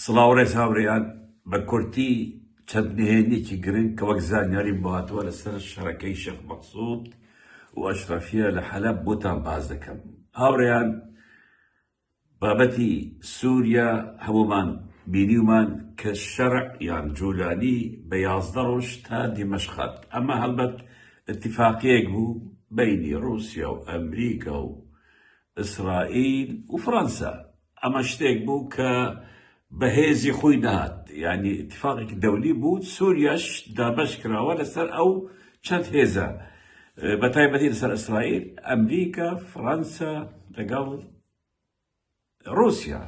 سڵاو ڕێز هاوڕێیان، بە کورتی چەند نهێنیەکی گرنگ کە وەک زانیاریم بۆ هاتووە لەسەر شەڕەکەی شێخ مەقسود و ئەشرەفیە لە حەلەب بۆتان باس دەکەم. هاوڕێیان بابەتی سوریا هەموومان بینیومان کە شەرع یان جولانی بە یازدە ڕۆژ تا دیمەشق هات، ئەمە هەڵبەت ئیتیفاقیەک بوو بەینی ڕوسیا و ئەمریکا و ئیسرائیل و فڕەنسا، ئەمە شتێک بوو کە بە هێزی خۆی نەهات، یانی ئیتیفاقێکی دەولی بوو، سووریاش دابەش کراوە لەسەر ئەو چەند هێزە، بە تایبەتی لەسەر ئیسرائیل، ئەمریکا، فڕەنسا لەگەڵ ڕووسیا.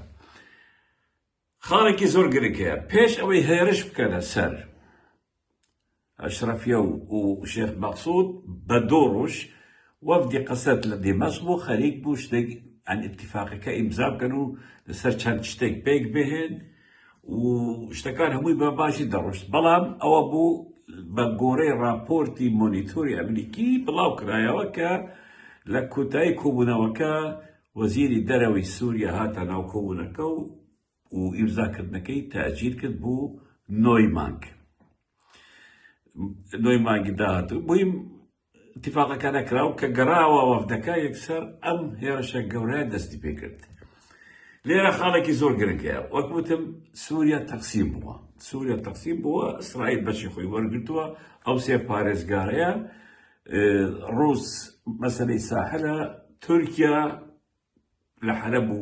خاڵێکی زۆر گرنگ هەیە، پێش ئەوەی هێرش بکەنە سەر ئەشرەفیە و شێخ مەقسود بە دوو ڕوژ وەفدی قەسەد لە دیمەشق بوو خەریک بوو شتێک یان ئیتیفاقەکە ئیمزا بکەن و لەسەر چەند شتێک پێک بهێن و شتەکان هەمووی بە باشی دەڕۆشت بەڵام ئەوە بوو بە گۆرەی ڕاپۆرتی مۆنیتۆری ئەمریکی بڵاو کرایەوە کە لە کوتایی کۆبوونەوەکە وەزیری دەرەوەی سووریا هاتە ناو کۆبوونەکە و و ئیمزاکردنەکەی تاجیل کرد بۆ نۆی مانگ نۆی مانگی داهاتوو بۆیم اتفاقەکانە کراو کە گەڕاوە وەفدەکە یەکسەر ئەم هێرشە گەورە دەستی پێ کرد لێرە خاڵێکی زۆر گرنگەیە وەک وتم سووریا تەقسیم بووە سووریا تەقسیم بووە ئیسرائیل بەشی خۆی وەرگتووە ئەو سێ پارێزگارەیە ڕوس مەسلەی ساحلە تورکیا لە حەلەب و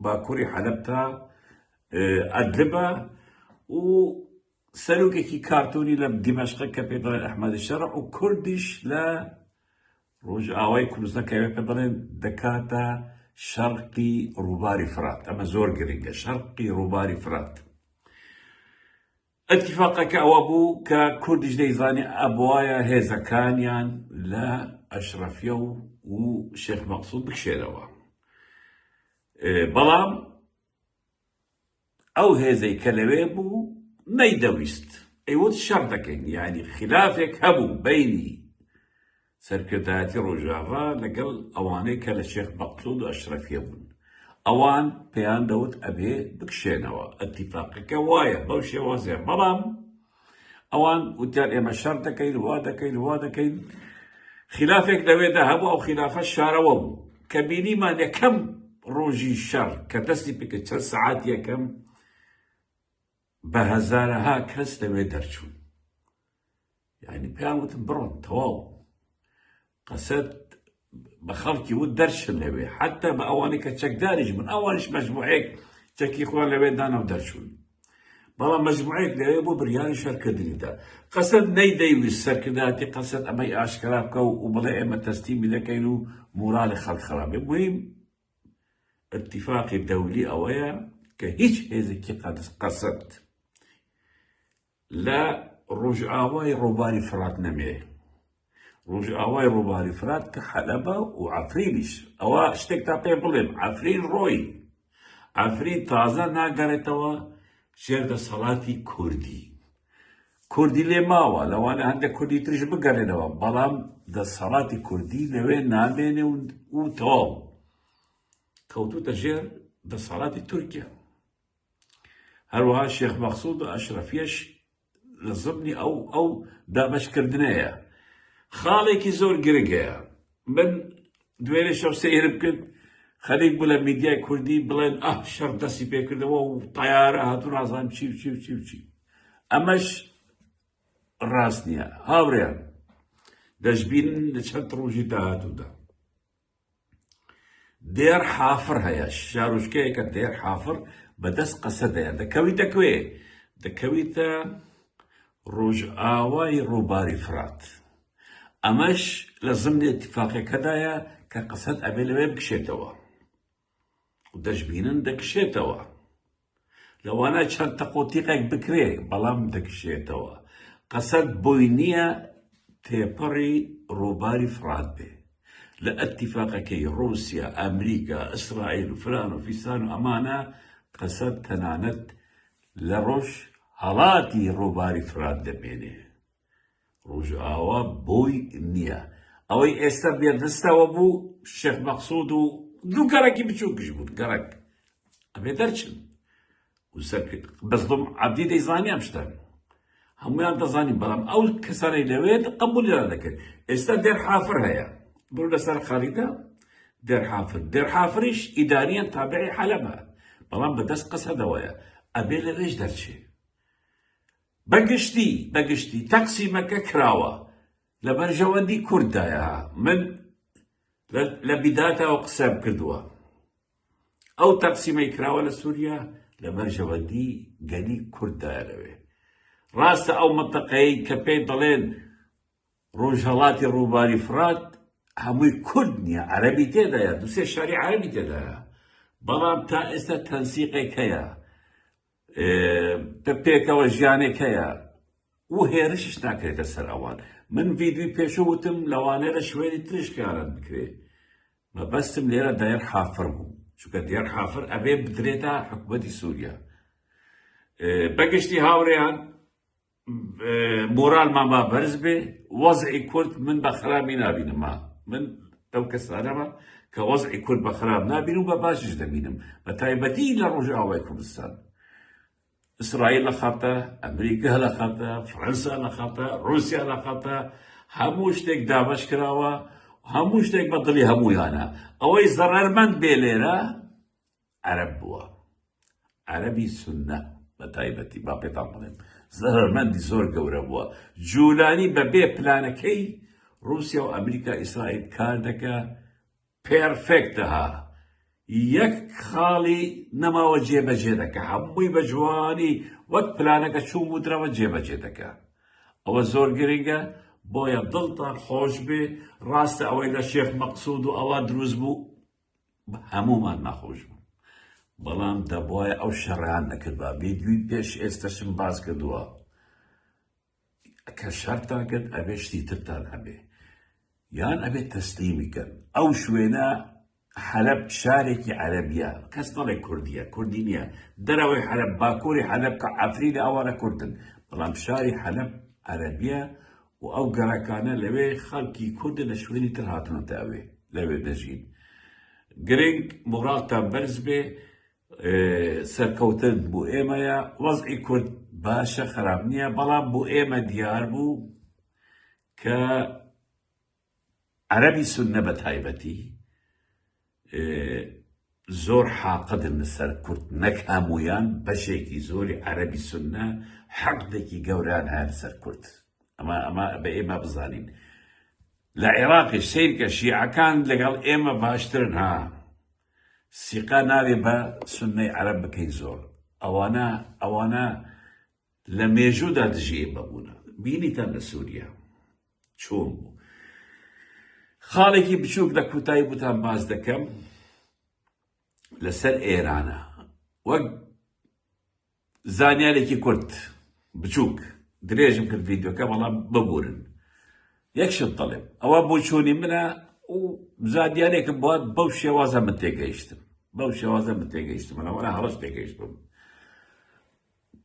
باکوری حەلەب تا ئەدلبە و سەرۆکێکی کارتۆنی لە دیمەشقە کە پێ دەڵێن ئەحمەدی شەڕ و کوردیش لە ڕۆژئاوای کوردستان کە پێ دەڵێن دەکاتە شەرقی ڕووباری فرات ئەمە زۆر گرنگە شەرقی ڕووباری فرات ئیتیفاقەکە ئەوە بوو کە کوردیش دەیزانی ئەبوایە هێزەکانیان لە ئەشرەفیە و و شێخ مەقسود بکشێنەوە. بەڵام ئەو هێزەی کە لەوێ بوو نەیدەویست ئەیوت شەڕ دەکەین یانی خلافێک هەبوو بینی سەرکردایەتی ڕۆژاڤا لەگەڵ ئەوانەی کە لە شێخ مەقسود و ئەشرەفیە بوون ئەوان پێیان دەوت ئەبێ بکشێنەوە ئەتیفاقەکە وایە بەو شێوازێ بەڵام ئەوان وتیان ئێمە شەڕ دەکەین وا دەکەین وا دەکەین خلافێک لەوێدا هەبوو ئەو خلافە شارەوە بوو کە بینیمان یەکەم ڕۆژی شەڕ کە دەستی پێکە چەند سعات یەکەم بە هەزارەها کەس لەوێ دەرچوون یعنی پێیان وتم بڕۆن تەواو قەسەد بە خەڵکی وت دەرچن لەوێ حتا بە ئەوانی کە چەکداریش بن ئەوانش مەجموعەیەک چەکی خۆیان لەوێ دانا و دەرچوون بەڵام مەجموعەیەک لەوێ بۆ بریانی شەرکردنیدا قەسەد نەیدەیویست سەرکردایەتی قەسەد ئەمەی ئاشکرا بکە و بڵێ ئێمە تەسلیمی دەکەین و مورالی خەڵک خراپ بێ مهم ئیتیفاقی دەولی ئەوەیە کە هیچ هێزێکی قەدس قەسد لە ڕۆژئاوای ڕووباری فرات نەمێ ڕۆژئاوای ڕووباری فرات کە حەلەبە و عفرینیش ئەوە شتێک تا پێ بڵێم عفرین ڕۆی عفرین تازە ناگەڕێتەوە ژێر دەسەڵاتی کوردی کوردی لێ ماوە، لەوانە هەندێک کوردی تریش بگەڕێنەوە، بەڵام دەسەڵاتی کوردی لەوێ نامێنێ و تەواو. کەوتووتە ژێر دەسەڵاتی تورکیا. هەروەها شێخ مەخسود و ئەشرەفیش لە زبنی ئەو ئەو دابەشکردنەیە خاڵێکی زۆر گرنگەیە من دوێنێ شەو سەیرم کرد خەریک بوو لە میدیای کوردی بڵێن ئەه شەڕ دەستی پێکردەوە و تەیارە هاتوو نازان چی و چی و چی و چی ئەمەش ڕاست نییە هاوریان دەشبین لە چەند ڕۆژی داهاتوودا دێر حافر هەیە شارۆچکەیەکە دێر حافر بەدەست قەسە دەیە دەکەوی دەکوێ دەکەویتە ڕۆژئاوای ڕووباری فرات ئەمەش لە زمنی ئیتیفاقیەکەدایە کە قسەت ئەبێ لەوێ بکشێتەوە و دەشبینن دەکشێتەوە. لەوانە چەند تەق و تیقێک بکرێ بەڵام دەکشێتەوە. قسەت بۆی نییە تێپەڕی ڕووباری فڕات بێ. لە ئەتیفاقەکەی ڕووسیا، ئەمریکا، ئیسرائیل و فلان و فیسان و ئەمانە قسەت تەنانەت لە ڕۆژ هەڵاتی ڕووباری فرات دەمێنێ. ڕۆژئاوا بۆی نییە ئەوەی ئێستا بێدستەوە بوو شێخ مەقسود و دوو گەڕێکی بچووکش بوون گەڕک ئەبێ دەرچن بەزڵم عبدی دەیزانیان شتن هەمویان دەزانین بەڵام ئەو کەسانی لەوێت قبولیان دەکرد ئێستا دێر حافر هەیە بڕ لەسەر خەریدا دێر حافر دێر حافریش ئیداریان تابعی حەلەبە بەڵام بەدەست قەسەدەوەیە ئەبێ لەوێش دەرچێت بە گشتی بە گشتی تەقسیمەکە کراوە لە بەرژەوەندی کورد دایە ها من لە لە بیداتەوە قسەم کردووە ئەو تەقسیمەی کراوە لە سووریا لە بەرژەوەندی گەلی کورد دایە لەوێ ڕاستە ئەو مەتەقەی کە پێی دەڵێن ڕۆژهەڵاتی ڕووباری فرات هەمووی کورد نییە عەرەبی تێدایە دوسێ شاری عەربی تێدایە بەڵام تا ئێستا تەنسیقێک هەیە ە پێکەوە ژیانێک هەیە و هێرشش ناکرێتە سەر ئەوان من ڤیددیوی پێشە وتم لەوانەیە لە شوێنی ترش خیانەت بکرێت مەبەستم لێرە دایەر حافر بوو چونکە دیار حافر ئەبێ بدرێتە حکوومەتی سووریا بەگشتی هاوڕێیان مۆرالمان با بەرز بێ وەزعی کورد من بە خراپی نابینم من ئەو کەسانەمە کە وەزعی کورد بە خراپ نابین و بە باشیش دەبینم بە تایبەتی لە ڕۆژئاوای کوردستان ئیسرائیل لە خەتە ئەمریکا لە خەتە فرەنسا لە خەتە رووسیا لە خەتە هەموو شتێک دابش کراوە هەموو شتێک بە دڵی هەموویانە ئەوەی زەڕەرمەند بێ لێرە عەرەب بووە عەرەبی سوننە بە تایبەتی با پێتان بڵێم زەرەرمەندی زۆر گەورە بووە جولانی بە بێ پلانەکەی رووسیا و ئەمریکا ئیسرائیل کار دەکە پێرفێکتە ها یەک خاڵی نەماوە جێبەجێ دەکە هەمووی بە جوانی وەک پلانەکە چوو و درەوە جێبەجێ دەکە ئەوە زۆر گرنگە بۆیە دڵتان خۆش بێ ڕاستە ئەوەی لە شێخ مەقسود و ئەوە دروست بوو هەموومان ناخۆش بوو بەڵام دەبواە ئەو شەڕیان نەکردبا ڤیدیوی پێش ئێستەشم باس کردووە کە شەرتان کرد ئەبێ شتی ترتان هەبێ یان ئەبێت تەسلیمی کەن ئەو شوێنە حەلب شارێکی عەربیە کەس نەڵێ کوردیە کوردی نییە دەرەوەی حەلب باکووری حەلب کە ئەفرینە ئەوانە کوردن بەڵام شاری حەلب عەربیە و ئەو گەڕەکانە لەوێ خەڵکی کوردە لە شوێنی تر هاتنەتە ئەوێ لەوێ دەژین گرنگ مۆڕاڵتان بەرز بێ سەرکەوتن بۆ ئێمەیە وەزعی کورد باشە خراپ نییە بەڵام بۆ ئێمە دیار بوو کە عەرەبی سوننە بە تایبەتی زۆر حاقدن لەسەر کورد، نەک هەموویان، بەشێکی زۆری عەرەبی سوننە حقدێکی گەورەیان هەیە لەسەر کورد، ئەمە ئەمە بە ئێمە بزانین لە عێراقیش سەیرکە شیعەکان لەگەڵ ئێمە باشترن ها، سیقە نابێ بە سوننەی عەرەب بکەین زۆر، ئەوانە ئەوانە لە مێژوودا دژی ئێمە بوونە، بینیتان لە سووریا چۆن بوو؟ خاڵێکی بچووک لە کوتایی بوتان باس دەکەم لەسەر ئێرانە وەک زانیارێکی کورت بچووک درێژم کرد ڤیددیوکە بەڵام ببورن یەکشت دەڵێم ئەوە بۆ چۆنی منە و زانیارێکم بۆ بەو شێوازە من تێگەیشتم بەو شێوازە من تێگەیشتم منەوەە هەڵش تێگەیشتم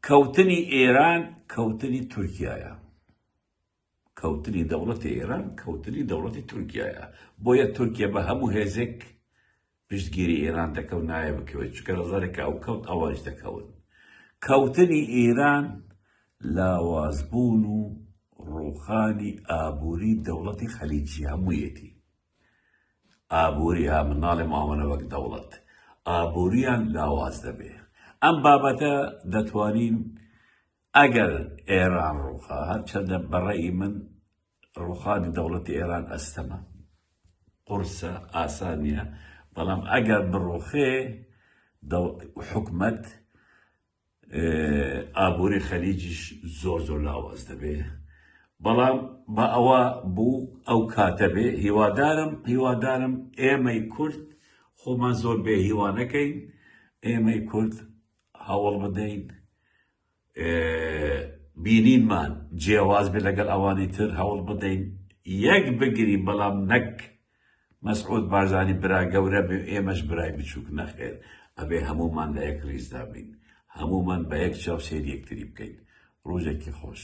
کەوتنی ئێران کەوتنی تورکایە کەوتنی دەوڵەتی ئێران کەوتنی دەوڵەتی تورکیایە بۆیە تورکیا بە هەموو هێزێک پشتگیری ئێران دەکەوت نایە بکەوێت چکە ڕزارێکە ئەو کەوت ئەوانش دەکەون کەوتنی ئێران لاوازبوون و ڕوخانی ئابووری دەوڵەتی خەلیجی هەموویەتی ئابووری ها مناڵێ مامەە وەک دەوڵەت ئابووریان لاواز دەبێ ئەم بابەتە دەتوانین ئەگەر ئێران ڕووخا، هەرچەندە بە ڕەئی من ڕووخانی دەوڵەتی ئێران ئەستەمە، قورسە، ئاسان نییە، بەڵام ئەگەر بڕووخێ حکومەت ئابووری خەلیجیش زۆر زۆر لاواز دەبێ، بەڵام بە ئەوە بوو ئەو کاتە بێ، هیوادارم هیوادارم ئێمەی کورد خۆمان زۆر بێهیوا نەکەین، ئێمەی کورد هەوڵ بدەین بینینمان جیاواز بێت لەگەڵ ئەوانی تر هەوڵ بدەین یەک بگرین بەڵام نەک مەسعود بارزانی برا گەورە بێ ئێمەش برای بچووک نەخێر ئەبێ هەموومان لە یەک ریزدا بین هەموومان بە یەک چاو سێری یەکتری بکەین ڕۆژێکی خۆش